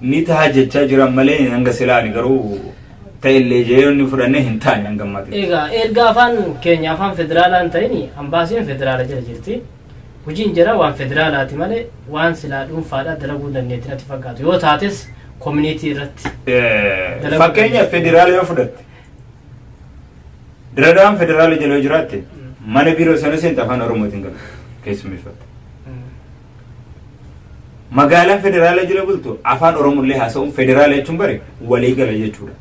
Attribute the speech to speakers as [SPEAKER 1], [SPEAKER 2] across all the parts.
[SPEAKER 1] Ni taha jechaa jiran malee hanga silaa ani garuu ta'ellee jee yoonni fudhanne hin taane hanga ammaatti. Egaa erga afaan
[SPEAKER 2] keenya afaan federaalaa hin ta'in ambaasiin federaala jala jirti. Hojiin jara waan federaalaati malee waan silaa dhuunfaadhaa dalaguu hin dandeetti natti fakkaatu. Yoo taates koominiitii irratti. Eh, Fakkeenya
[SPEAKER 1] federaala yoo fudhatte diradaan federaala jala yoo jiraatte mana biiroo sana seenta afaan oromootiin gala keessummeeffatte. Magaalaan federaala jala bultu afaan Oromollee haasa'uun federaala jechuun bari walii gala jechuudha.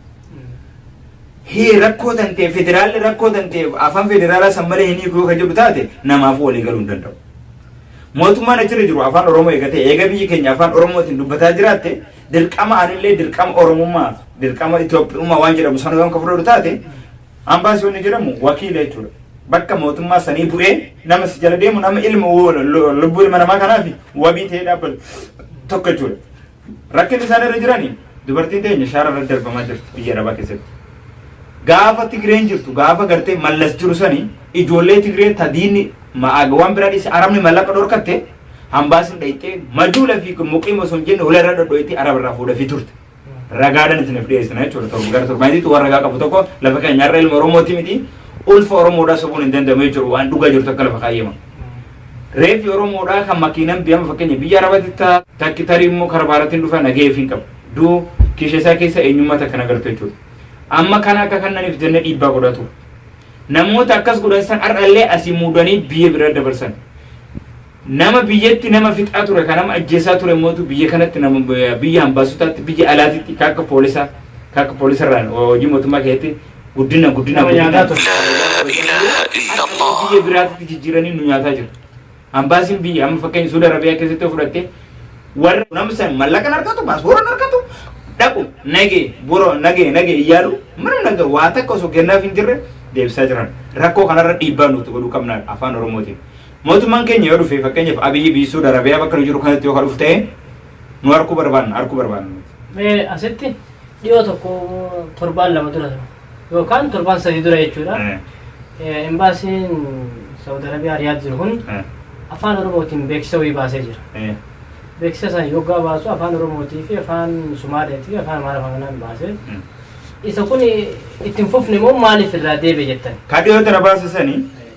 [SPEAKER 1] Hii rakkoo tan ta'e federaalli rakkoo tan ta'e afaan federaalaa san malee hin hiikuu kan jedhu taate namaaf walii galuu hin danda'u. Mootummaan achirra jiru afaan Oromoo eegatee eega biyyi keenya afaan Oromootiin dubbataa jiraatte dirqama anillee dirqama Oromummaa dirqama Itoophiyummaa waan jedhamu sana waan kan fudhatu taate Ambaasii wanni jedhamu wakiila jechuudha. Bakka mootummaa sanii bu'ee nama si jala deemu nama ilma lubbuu ilma namaa kanaaf wabii ta'ee dhaabbatu tokko jechuudha. Rakkinni isaan irra jirani dubartiin teenya shaara irra darbamaa jirti biyya arabaa keessatti. Gaafa Tigreen jirtu gaafa gartee mallas jiru sani ijoollee Tigree tadiinni ma'aagawwan biraa dhiise arabni mallaqa dhorkatte hambaasin dhayxee majuula fi muqiim osoo hin jenne hula irra dhodhoyte araba irraa fuudhafii turte. ragaadhaan isiniif dhiyeessina jechuudha. Torba gara torbaanitti waan ragaa qabu tokko lafa keenya har'a ilma Oromooti miti ulfa Oromoodhaa sobuun hin danda'amu jechuudha waan dhugaa jirtu akka lafa kaayyama. Reeffi Oromoodhaa kan makiinaan biyyaama fakkeenya biyya Arabaatti taa takki tarii immoo karaa baaratiin dhufa nagahee fi hin qabu. Duu kiisha isaa keessa eenyummaa takka nagartu jechuudha. Amma kana akka kannaniif jennee dhiibbaa godhatu. Namoota akkas godhan san har'allee asii muudanii biyya bira dabarsan. Nama biyyatti nama fixaa ture ka nama ajjeesaa ture mootu biyya kanatti nama biyya ambaasotaatti biyya alaatitti ka akka poolisaa ka akka poolisarraan hojii mootummaa keessatti guddina guddina Nama guddina nyaataa ture. ilaha illallah. biyya biraatitti jijjiiranii nu nyaataa jiru. Ambaasiin biyya amma fakkeenya Suudi Arabiyaa keessatti yoo fudhatte warra nama san mallaqan argatu paaspooraan argatu dhaqu nagee boroo nagee nagee iyyaalu mana naga waa takka osoo kennaaf hin jirre deebisaa jiran rakkoo kanarra dhiibbaa nuti godhuu qabna afaan oromootiin. Mootummaan keenya yoo dhufe fakkeenyaaf Abiyyi biyyi Suud Arabiyaa bakka nu jiru kanatti yoo ka dhufu ta'e nu harkuu barbaanna harkuu barbaanna. Mee
[SPEAKER 2] asitti dhiyoo tokko torbaan lama dura ture. yookaan torbaan sadii dura jechuudha. Eh, Eh, Embaasiin Saawud Arabiyaa Riyaad jiru kun eh, afaan Oromootiin beeksisa wayii baasee jira. eh, Beeksisa sana yoggaa baasu afaan Oromootii fi afaan Sumaaleetii fi afaan Amaarifaa kanaan baasee mm. isa kun ittiin fufne moo maaliif irraa deebi'e jettan? Ka dhiyoo tana baasisanii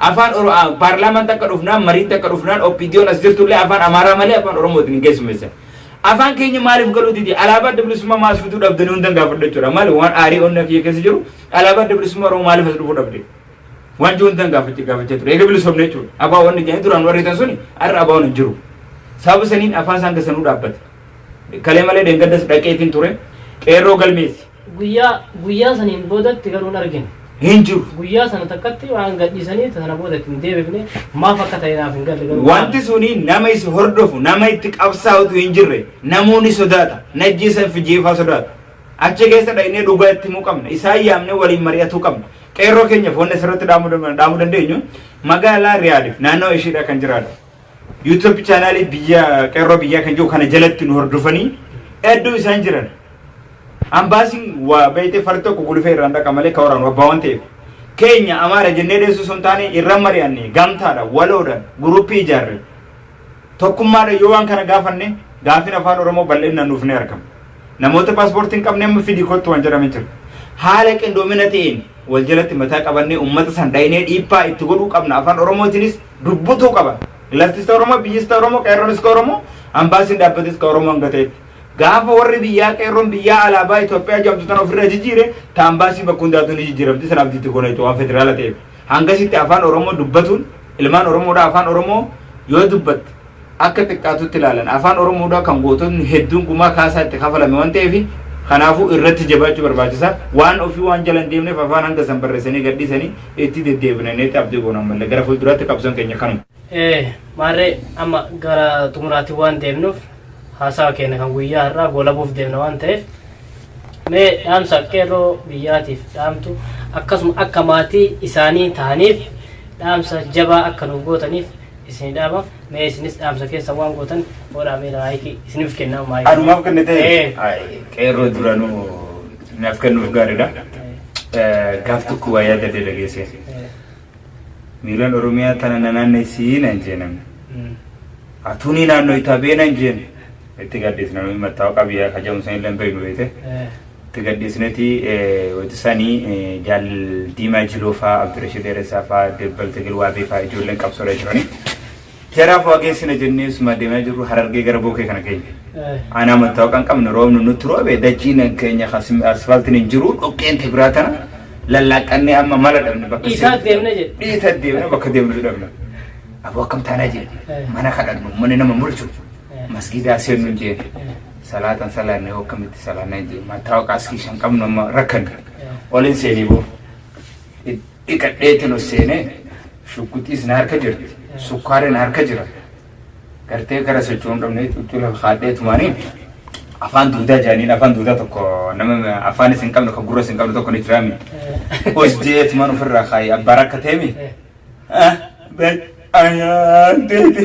[SPEAKER 1] Afaan Oro- ah, paarlaamaatti akka dhufnaan mariitti akka dhufnaan OPDOn as jirtullee afaan Amaaraa malee afaan Oromootiin hin keessummeessan. Afaan keenya maaliif galuu didi? Alaabaa adda bilisummaa maas fiduu dhabdanii hundan gaafadha jechuudha. Maali waan aarii onnee kiyya keessa jiru alaabaa adda bilisummaa Oromoo maaliif as dhufuu dhabde? Waan jiru hundan gaafachaa gaafachaa ture. Eega bilisomne jechuudha. Abaa waan jedhanii duraan warri tan suni har'a abaa waan hin jiru. Sababa saniin afaan isaan keessanuu dhaabbate. Kalee malee deengaddas dhaqeetiin ture. Qeerroo galmeessi. Guyyaa, guyyaa saniin boodatti garuu hin argine. Hin jiru. Guyyaa sana takkatti waan gadhiisanii sana booda itti hin deebifne maaf akka ta'e naaf hin galle garuu. Wanti suni nama isi hordofu, nama itti qabsaa'utu hin jirre, namoonni sodaata, najjeesan fi jeefaa sodaata. Achi keessa dhaynee dhugaa itti himuu qabna. Isaan yaamnee waliin mari'atuu qabna. Qeerroo keenyaaf wanni asirratti dhaamuu dandeenyu magaalaa Riyaadiif naannoo ishiidha kan jiraatu. YouTube chaanaalii biyya qeerroo biyyaa kan jiru kana jalatti nu hordofanii hedduu isaan jiran. Ambaasiin waa beeyte far tokko gulufee irraan dhaqa malee ka waraanu abbaa waan ta'eef. Keenya amaara jennee dheessuu sun taane irra mari'anne gamtaadha waloodha guruppii ijaarre. Tokkummaadha yoo waan kana gaafanne gaafin afaan Oromoo bal'inaan nuuf ni argama. Namoota paaspoortii hin qabne amma fidii kottu waan jedhame jiru. Haala qindoomina ta'een wal jalatti mataa qabannee uummata san dhaynee dhiibbaa itti godhuu qabna afaan Oromootiinis dubbutuu qaba. Laftista Oromoo, biyyista Oromoo, qeerroon iska Oromoo, ambaasiin dhaabbata iska Oromoo hanga ta'etti. Gaafa warri biyyaa qeerroon biyyaa alaabaa Itoophiyaa jedhamtu tana ofirra jijjiire, ta ambaasii bakka hundaatu ni jijjiiramti sana abdiitti goona jechuudha waan federaala ta'eef. Hangasitti afaan Oromoo dubbatuun ilmaan Oromoodhaa afaan Oromoo yoo dubbatte akka xiqqaatutti ilaalan. Afaan Oromoodhaa kan goototni hedduun gumaa kaasaa itti kafalame waan ta'eef kanaafuu irratti jabaachuu barbaachisa. Waan ofii waan jala hin deemneef afaan hanga san barreessanii gadhiisanii itti deddeebina jennee abdii goona ammallee. Gara fuulduraatti qabsoon keenya kanuma. Ee, maarree
[SPEAKER 2] amma gara xumuraatti waan deemnuuf haasawa keenya kan guyyaa har'aa goolabuuf deemna waan ta'eef mee dhaamsa qeerroo biyyaatiif dhaamtu akkasuma akka maatii isaanii ta'aniif dhaamsa jabaa akka nuuf gootaniif isini dhaabaf mee isinis dhaamsa keessa waan gootan hoodhaa mee laayikii isinif kennaa maayikii. Anumaaf kan ta'e
[SPEAKER 1] Ee. qeerroo duranuu naaf kennuuf gaariidha. Eh, Gaaf tokko waa yaada dee dhageesse. Ee. Miilaan Oromiyaa tana na naannessii nan jeenan. Mm. Atuunii naannoo itaa bee nan jeen. Itti gaaddees namoonni mattaawaa qabiyyaa kajamu san illee hin beeknu beekte. Ee. Itti gadhiisneeti wayita sani jaal Diimaa Jiloo faa Abdirashid Dheeressaa faa Debbal Tigil Waabee faa ijoolleen qabsoorra jirani. Jaraaf waa geessina jennee suma deemaa jirru Harargee gara Bookee kana geenye. Aanaa mattaawaqa hin qabne roobni nutti roobe dachiin keenya asfaaltiin hin jiru dhoqqeen tabiraa tana lallaaqqannee amma mala dhabne bakka Dhiisaa deemna jedhe.
[SPEAKER 2] Dhiisa deemna bakka
[SPEAKER 1] deemnu dhabna. Aboo akkam taanaa jee mana kadhannu mana nama mulchu masgiidaa seennu hin jeene. Salaata hin salaanne hoo akkamitti salaanna hin jee mattaawaqa askii shan qabnu amma rakkanne olin seenee boo dhiqadheetin ol seenee shugguxiis na harka jirti sukkaari na harka jira gartee gara socho'uu hin qabne cuccuu lafa kaadhee tumaanii afaan duudaa jaaniin afaan duudaa tokko nama afaan isin qabne kan gurra isin qabne tokko ni jiraami os jee tumaan ofirraa kaayi abbaa rakkateemi Ah, ben ayaan deete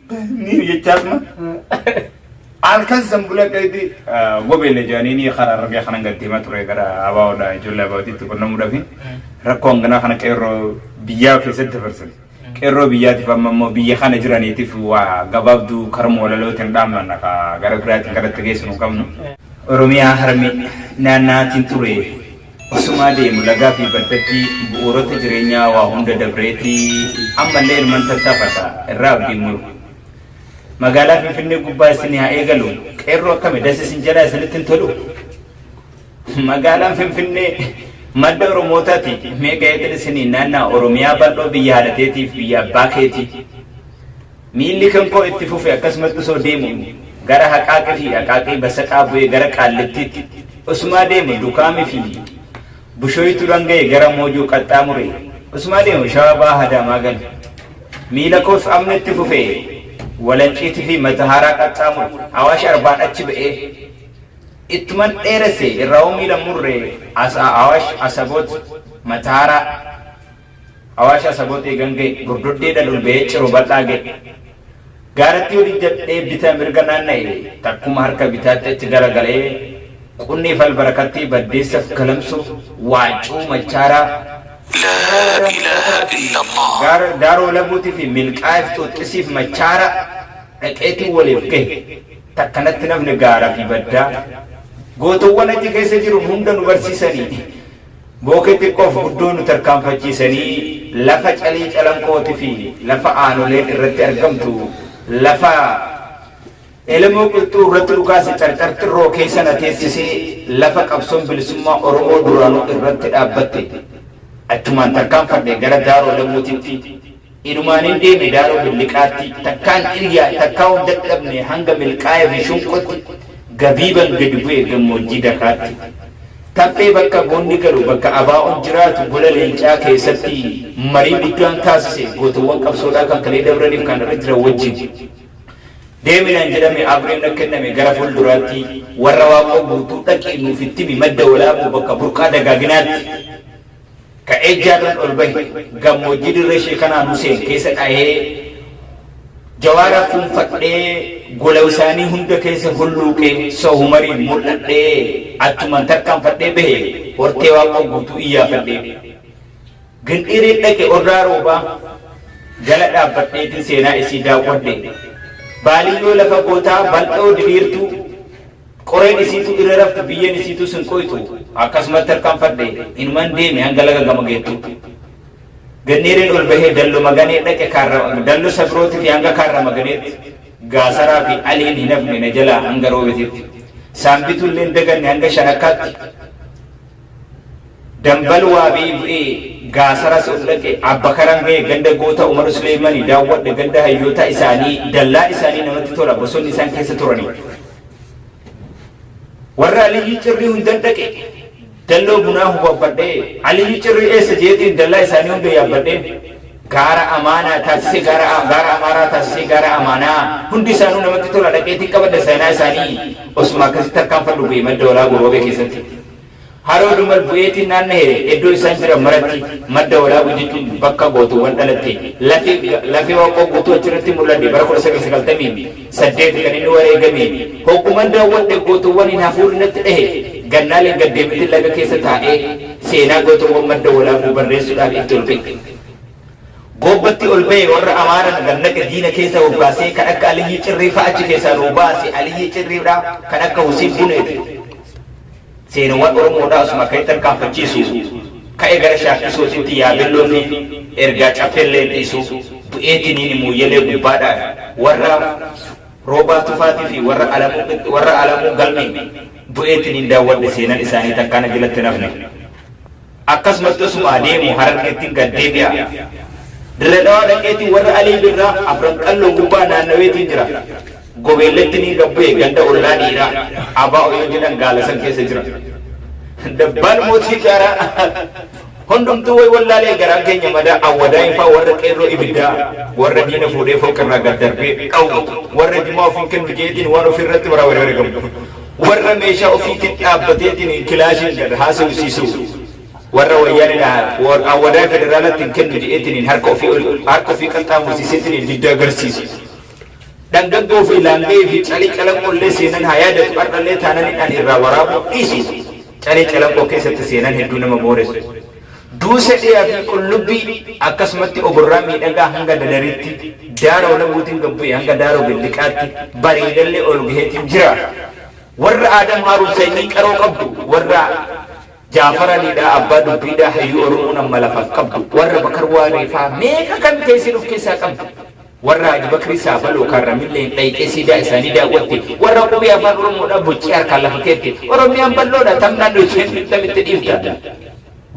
[SPEAKER 3] Ni
[SPEAKER 1] jechaas ma. Halkan san bula qayti gobeele jedhanii ni karaa rabbii kanan galtee ma ture gara abaa'oodha ijoollee abaa'ootitti qunnamuudhaaf rakkoo hanganaa kana qeerroo biyyaa keessatti dabarsan. Qeerroo biyyaatiif amma immoo biyya kana jiraniitiif waa gabaabduu karuma walalootiin dhaammanna ka gara biraatiin kadhatta geessu hin qabnu. Oromiyaa harmee naannaatiin ture Osumaa deemu lagaa fi baddatti bu'uurota jireenyaa waa hunda dabreeti ammallee ilman tattaafata irraa abdiin muru. Magaalaa Finfinnee gubbaa isin haa eegalu qeerroo akkami das isin jedhaa isinitti hin tolu? Magaalaan Finfinnee madda Oromootaati mee ka'eetin isiniin naannaa Oromiyaa bal'oo biyya haadhateetiif biyya abbaa keetii. Miilli kan koo itti fufe akkasumatti osoo deemu gara Haqaaqi fi Aqaaqii Basaqaa bu'ee gara Qaallittiitti osumaa deemu Dukaami fi Bushoyituudhaan ga'e gara Moojoo qaxxaamure osumaa deemu Shawaa Bahaa Adaamaa gale. Miila koos amn itti fufee Walanciiti fi Matahaaraa qaxxaamure Awaash Arbaan achi ba'ee ittuman dheeresse irraahuu miila murre as Awaash Asaboot Matahaaraa Awaasha Asabooxee gan ga'e, Gordoddee Dadul ba'ee Ciro Bal'aa ga'e. Gaaratti ol ijjadhee bita mirga naanna'e, takkuma harka bitaatti achi gara galee, Qunniif Albarakattee, Baddeessaf Galamsoo, Waaccuu, Machaaraa,
[SPEAKER 3] Gaara Daaroo Labuuti fi
[SPEAKER 1] Milqaa'eef Xuuxxisiif Machaaraa dhaqeetiin waliif gahe. Takka natti hin hafne gaara fi baddaa. Gootowwan achi keessa jiru hunda nu barsiisani. Bookee xiqqoof guddoo nu tarkaanfachiisanii lafa Calii Calanqooti fi lafa aanoleen irratti argamtu lafa Elemoo Qilxuu irratti dhukaase Carcar Xirroo keessa na teessise lafa qabsoon bilisummaa Oromoo duraanuu irratti dhaabbatte. Achumaan tarkaanfadhe gara Daaroo Lamuutitti. Inumaanin deeme Daaroo Billiqaatti, takkaan ciryaan takkaa of dadhabne hanga Milkaa'ee fi Shunqotti, Gabiiban gadi bu'e gammoojjii Dakaatti. Taffee bakka goonni galu, bakka ABOn jiraatu Gola Leencaa keessatti marii guddaan taasise gootowwan qabsoodhaa kan kalee dabraniif kan har'a jiran wajjin. Deemi naan jedhame, Abreen na kenname gara fuulduraatti Warra Waaqoo Guutuu dhaqii nuuf itti himi madda Walaabuu bakka burqaa dagaaginaatti. Ka'ee Jaarran ol bahe gammoojjii dirree Sheekanaan Huseen keessa dhahee Jawaara fuunfadhee gola isaanii hunda keessa hulluuqee Soo Humariin mul'adhee achuman tarkaanfadhee bahe Hortee Waaqoo guutuu iyyaafadhee Gindhiiriin dhaqe Orraa Roobaa jala dhaabbadheetin seenaa isii daawwadhe Baaliyyoo lafa gootaa bal'oo diriirtuu Qoreen isiituu irra rafti, biyyeen isiituus hin qoytu. Akkasumatti hirqanfadhe, inuman deeme hanga laga gama geettutti. Ganneereen ol bahee Dallo Maganee dhaqe, Kaarra, Dallo Sabirootifi hanga Kaarra Maganeetti. Gaasaraafi Aliin hin hafne na jalaa hanga Roobetitti. Saambituu illee hin daganne hanga Shanakkaatti. Dambal Waabee bu'ee Gaasaras ol dhaqe, Abbakaran gahe, ganda goota Umar Suleeymani daawwadhe, ganda hayyootaa isaanii, dallaa isaanii namatti tola, bosonni isaan keessa turani. warra aliyyii cirrii hundan dhaqe dalloo bunaa hubabbadhee aliyyii cirrii eessa jeetiin dallaa isaanii hunda yaabbadheen gaara amaanaa taasisee gaara gaara amaaraa taasisee gaara amaanaa hundi isaanuu namatti tola dhaqeetiin qabadha seenaa isaanii osuma akkasitti harkaan fadhu bu'e madda walaa goroobee keessatti Haroo Dumal bu'eetiin naanna'eera. Eddoo isaan jiran maratti madda Walaabu jechuun bakka gootoowwan dhalatte. Lafi Lafee Waaqoo guutuu achirratti mul'adhe. Bara 1998 kan inni wareegame. Hogguman daawwadhe gootowwaniin hafuurri natti dhahe. Gannaaleen gad deemetin laga keessa taa'ee seenaa gootowwan madda Walaabuu barreessudhaaf itti ol ba'e. Goobbatti ol ba'e warra Amaara nu gannaqe diina keessa bobbaasee kan akka Aliyyii Cirrii fa'a achi keessaa nuu baase Aliyyii Cirriidha kan akka Husiin Buneeti. Seenawwan Oromoodhaa osuma ka'ee tarkaanfachiisuu, ka'ee gara shaakkisootitti yaabelloofi ergaa caffeellee hin dhiisu, bu'eetiniini Mooyyalee gubbaadhaan warra Roobaa Tufaatiifi warra Alamuu warra Alamuu Galmee bu'eetiniin daawwadhe seenan isaanii takkaa na jalatti hin hafne. Akkasumatti osuma adeemu Harargettin gad deebi'a. Dirre Dhawaa dhaqeeti warra Alii Birraa Afran Qalloo gubbaa naannaweetiin jira. Gobeelletti niin gad bu'e ganda ollaa dhiiraa Abaa Oyoo jedhan gaala san keessa jira. Dabbaal Mootii Gaaraa Hundumtuu way wallaalee garaan keenya madaa Awwadaayin faa warra qeerroo ibiddaa warra diina fuudhee fooqirraa gad darbee dhawwu warra jimaa ofiin kennu jeetiin waan ofirratti baraa wari wari gabu. warra meeshaa ofiitiin dhaabbateetiin kilaashiin gad haasawisiisuu warra wayyaanidha awwadaa federaalatti hin kennu jedheetiin harka ofii ol harka ofii qaxxaamursiiseetiin didda agarsiisu. Dhangaggoo fi laanga'ee fi calii calanqollee seenan haa yaadatu har'allee taananidhaan irraa waraabuu dhiisu. Calee Calanqoo keessatti seenaan hedduu nama booressu, duusa dhiyaa fi qullubbii akkasumatti oborraa miidhagaa hanga Dadaritti, Daaroo Labuutiin gad bu'ee hanga Daaroo Billiqaatti bareedallee ol gaheetiin jira. Warra Aadam Haaruun sanyii qaroo qabdu, warra Jaafar Alii dhaa, Abbaa Dubbii dhaa, hayyuu Oromoon amma lafaaf qabdu, warra Bakar Waaree faa meeqa kan teessiin of keessaa qabdu. Warra Haji Bakrii Saabaloo kan Ramilleen dhayxee siidaa isaanii daawwatte, warra qubee Afaan Oromoodhaa boccee harkaan lafa keette, Oromiyaan bal'oodha tam naannoo isheen tam itti dhiifta?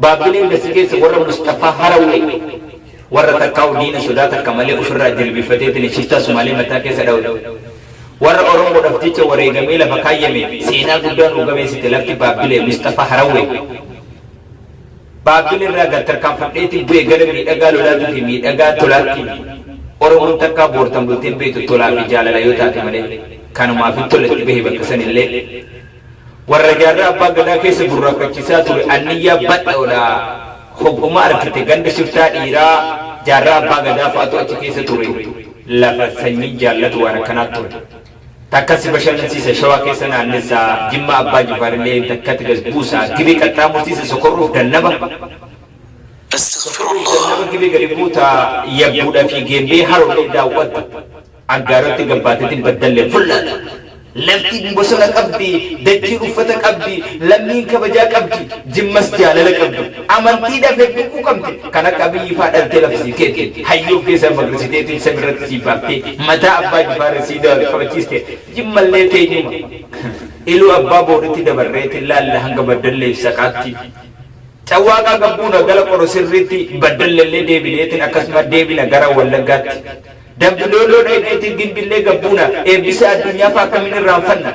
[SPEAKER 1] Baabbilee hunda si geessa warra Musxafaa Harawwee, warra takkaa'uu diina sodaa takka malee ufirraa jilbiiffateetiin shiftaa Sumaalee mataa keessa dhawate, warra Oromoodhaaf jecha wareegamee lafa kaayyame seenaa guddaa nuu gameessite lafti Baabbilee, Musxafaa Harawwee. Baabiin irraa gad tarkaanfadheetiin bu'e gara miidhagaa lolaatuu fi miidhagaa tolaatti. Oromoon takkaa boortan bultee hin beektu tolaa fi jaalala yoo taate malee. Kanumaafin tola itti bahe bakka san illee. Warra jaarraa abbaa gadaa keessa burraaqqachiisaa ture anniyyaa badhoodha. Hogguma argite ganda shiftaa dhiiraa jaarraa abbaa gadaa fa'atu achi keessa ture. Lafa sanyiin jaallatu waan akkanaa ture. Takka si bashannansiisa Shawaa keessa naannessa Jimmaa Abbaa Jifaar illee takkatti gad buusa Gibee qaxxaamursiisa Sokorruuf Dannaba
[SPEAKER 3] Sokorruuf Dannaba Gibee gadi buuta
[SPEAKER 1] Yabbuudha fi Geembee Haroo illee daawwatta Aggaarotti gabbaateetiin Baddallee fullaata Lafti bosona qabdi Dachiin uffata qabdi Lammiin kabajaa qabdi Jimmas jaalala qabdi Amantii dafee quuquu qabde kan akka Abiyyi faa dhaltee lafa sii keette hayyuu of keessaa magrisitee tiin sami irratti sii baaftee mataa abbaa jifaarri sii daawal qabachiiste jimmallee teenyuma iluu abbaa booritti dabarree tin laalla hanga baddallee fi saqaatti cawwaaqaa gabbuuna gala qoro sirriitti baddallellee deebinee tin akkasuma deebina gara wallaggaatti dambi dolloo dhayneetii gimbillee gabbuuna eebbisa addunyaa faa akkamiin irraanfanna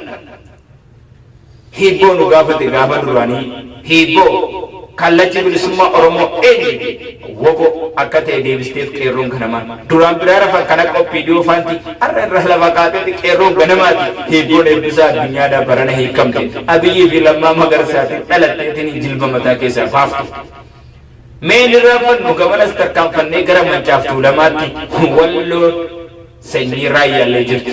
[SPEAKER 1] Hiibboo nu gaafate gaafa duraanii hiibboo Kallachi Bilisummaa Oromoo eenyu fi wbo akka ta'e deebisteef qeerroon ganamaa. Duraan biraa rafan kan akka Oppiidiyoo faanti har'a irraa lafa kaateeti qeerroon ganamaati. Hiibboon Eebbisaa Addunyaadhaa barana hiikkamte. Abiyyii fi Lammaa Magarsaatiin dhalatteetiin jilba mataa keessaa baafte. Mee hin irraanfannu gamanas tarkaanfannee gara Mancaaf Tuulamaatti Walloon sanyii Raayyaallee jirti.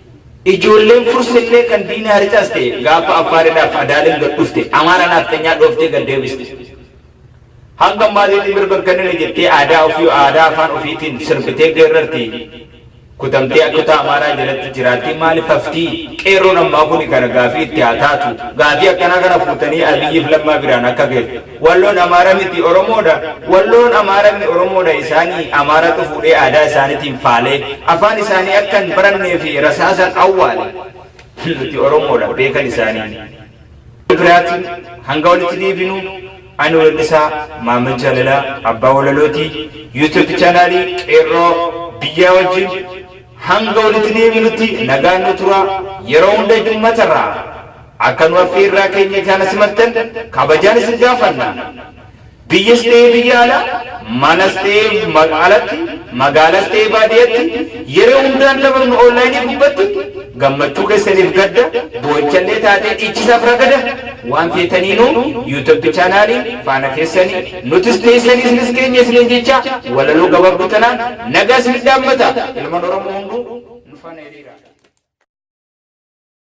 [SPEAKER 1] Ijoolleen Fursillee kan diina harcaas ta'e gaafa Affaaridhaaf Adaaleen gad dhufte Amaara naafxanyaa dhooftee gad deebiste. Hanga ammaatiitti mirga hin kennine jettee aadaa ofii aadaa afaan ofiitiin sirbitee geerrarti. Kutamtee akkutaa Amaaraa jalatti jiraatti maalif hafti? Qeerroon ammaa kuni kana gaafii itti haa taatu. Gaafii akkanaa kana fuutanii Abiyyiif Lammaa biraan akka geessu. Walloon Amaara miti Oromoodha Walloon Amaara mni Oromoodha isaani Amaaratu fuudhee aadaa isaanitiin faalee afaan isaanii akka hin barannee fi rasaasan awwaale Nuti Oromoodha beekan isaanii Biraatin hanga walitti deebinu Ani weellisaa Maammed Jaalalaa Abbaa Walalooti YouTube Channel Qeerroo Biyyaa wajjin Hanga walitti deebinutti nagaan nu turaa Yeroo hunda Jummatarraa Akka nu affeerraa keenya jaala simattan kabajaan isin gaafanna. Biyyas ta'ee biyya alaa, manas ta'ee alatti, magaalas ta'ee baadiyatti, yeroo hundaan taphafnu online gubbatti, gammachuu keessaniif gadda, boo'ichallee taatee dhiichisaaf ragada, waan feetaniinuu youtube channel faana keessanii, nutis teessanii isinis keenya isiniin jechaa, walaloo gabaabduu tanaan nagaa isinif dhaammata. Ilman Oromoo hunduu nu faana hiriiraa.